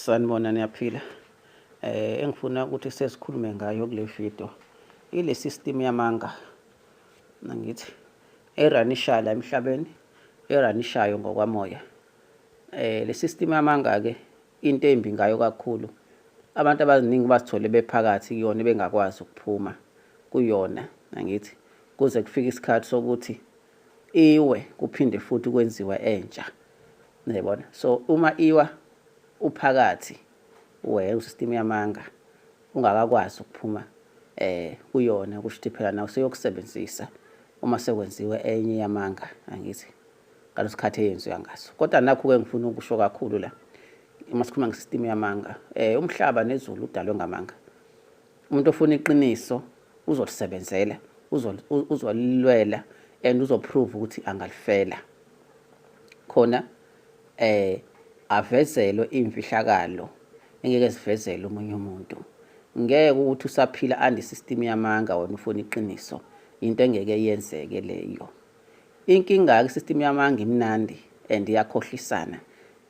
Sanibona niyaphila. Eh engifuna ukuthi sesikhulume ngayo kule video ile system yamanga. Nangithi eranisha la emhlabeni eranishayo ngokwamoya. Eh le system yamanga ke into embi ngayo kakhulu. Abantu abaningi basithole bephakathi kuyona bengakwazi ukuphuma kuyona nangithi kuze kufike isikhathi sokuthi iwe kuphinde futhi kwenziwe entsha niyabona so uma iwa uphakathi wena usystem yamanga ungakakwazi ukuphuma eh kuyona kusho ukuthi phela nawe seyokusebenzisa uma sekwenziwe enye yamanga angithi ngalesikhathi eyenziwa ngaso kodwa nakho ke ngifuna ukusho kakhulu la uma sikhuluma ngesystem yamanga eh umhlaba nezulu udalwe ngamanga umuntu ofuna iqiniso uzolisebenzela uzolilwela and uzoprove ukuthi angalifela khona eh avezelwe imfihlakalo engeke sivezele omunye umuntu ngeke ukuthi usaphila andi system yamanga wena ufuna iqiniso into engeke yenzeke leyo Inkinga-ke i-system yamanga imnandi and iyakhohlisana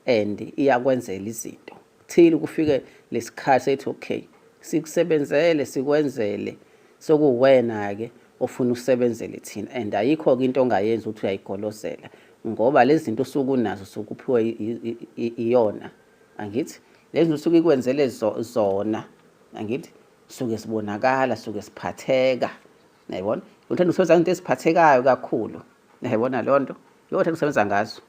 and iyakwenzela izinto. Kuthile kufike lesikhathi sethi okay, sikusebenzele sikwenzele sokuwena-ke ofuna usebenzele thina and ayikho-ke into ongayenzi ukuthi uyayigolozela ngoba lezi zinto usuke unazo usuke uphiwe iyona angithi lezi zinto usuke ikwenzele zona angithi suke sibonakala suke siphatheka Nayibona? Uthanda ukusebenza into eziphathekayo kakhulu. Nayibona leyo nto? Leyo thanda ukusebenza ngazo.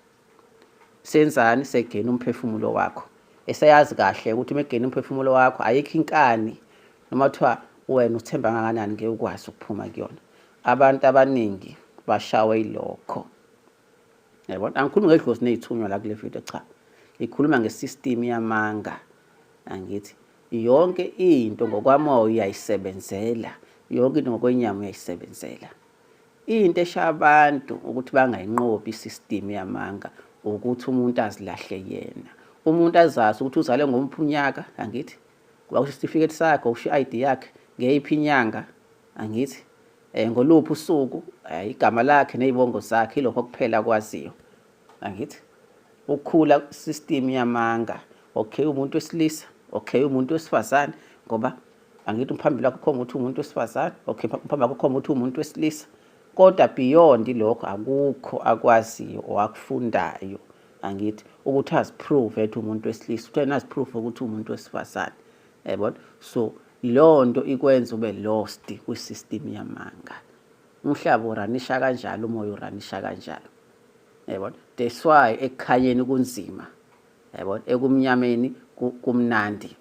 Senzani segena umphefumulo wakho. Eseyazi kahle ukuthi uma egena umphefumulo wakho ayikho inkani noma kuthiwa wena uthemba kangakanani ngeke ukwazi ukuphuma kuyona. Abantu abaningi bashawe ilokho. Yabona? Angikhulumi ngedlozi nezithunywa la kule video cha. Ngikhuluma ngesystem yamanga. Angithi Yonke into ngokwamoya uyayisebenzela, yonke into ngokwenyama uyayisebenzela. Into eshaya abantu ukuthi bangayinqobi i-system yamanga ukuthi umuntu azilahle yena. Umuntu azazi ukuthi uzalwe ngomphi unyaka, angithi? Kuba kusho isitifiketi sakhe, usho i-ID yakhe, ngeyiphi inyanga, angithi? Eh, ngoluphi usuku, eh, igama lakhe ney'bongo zakhe, ilokho kuphela akwaziyo. angithi ukukhula system yamanga okay umuntu wesilisa okay umuntu wesifazane ngoba angithi umphambili wakho khoma ukuthi umuntu wesifazane okay umphambili wakho khoma ukuthi umuntu wesilisa kodwa beyond lokho akukho akwaziyo owakufundayo angithi ukuthi aziprove ethi umuntu wesilisa ukuthi yena aziprove ukuthi umuntu wesifazane yabona so leyo nto ikwenza ube lost kwi-system yamanga umhlaba uranisha kanjalo umoya uranisha kanjalo yabona that's why ekukhanyeni kunzima yabona ekumnyameni kumnandi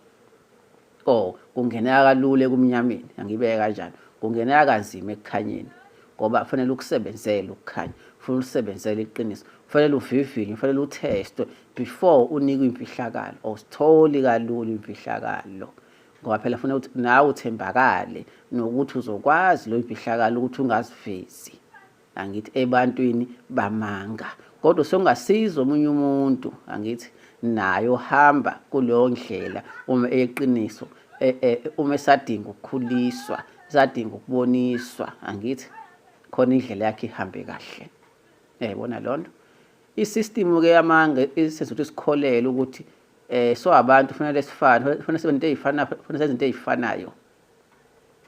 oh kungeneka kalula ekumnyameni angibeke kanjalo kungeneka kanzima ekukhanyeni ngoba kufanele ukusebenzele ukukhanya kufanele ulisebenzele iqiniso kufanele uvivinye kufanele uthestwe before unikwe imfihlakalo awusitholi kalula imfihlakalo ngoba phela funa ukuthi nawe uthembakale nokuthi uzokwazi leyo mfihlakalo ukuthi ungazivezi angithi ebantwini bamanga kodwa songasiza omunye umuntu angithi nayo hamba kuleyo ndlela uma eyeqiniso e, e, uma esadinga ukukhuliswa sadinga ukuboniswa angithi khona indlela yakhe ihambe kahle yayibona lonto isystem ke yamanga isizwe ukuthi sikholele ukuthi eh so abantu kufanele sifane kufanele sibe into ezifanayo kufanele senze into ezifanayo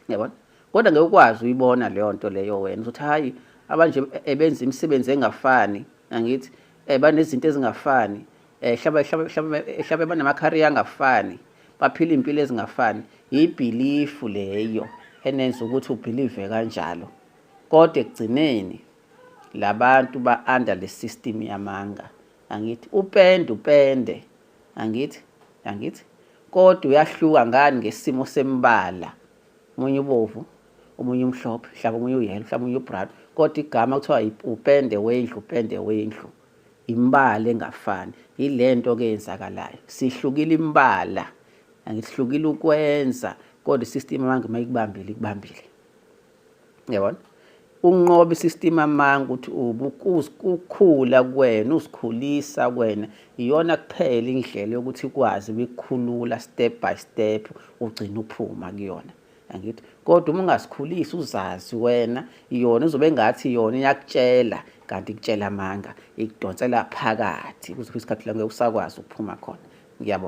yabona kodwa ngeke ukwazi uyibona leyo nto leyo wena uzothi hayi abanje ebenza imisebenzi engafani angithi eh banezinto ezingafani eh hlaba hlaba hlaba hlaba banamakhari angafani baphila impilo ezingafani yibhilifu leyo enenza ukuthi ubhilive kanjalo kodwa ekugcineni labantu ba under le system yamanga angithi upende upende angithi angithi kodwa uyahluka ngani ngesimo sembala omunye ubovu omunye umhlophe mhlawumbe omunye uyelo mhlawumbe omunye ubrown kodwa igama kuthiwa upende wendlu upende wendlu imbala engafani yile nto ke yenzakalayo sihlukile imbala angihlukile ukwenza kodwa i-system abantu uma ikubambile ikubambile yabona unqoba isystem amanga ukuthi ukukhula kwena usikhulisa kwena iyona kuphela indlela yokuthi ikwazi ukukhulula step by step ugcina uphuma kuyona angithi kodwa uma ungasikhulisi uzazi wena yona uzobe ngathi yona iyakutshela kanti ikutshela amanga ikudonsela phakathi kuze isikhathi la ngeke usakwazi ukuphuma khona ngiyabonga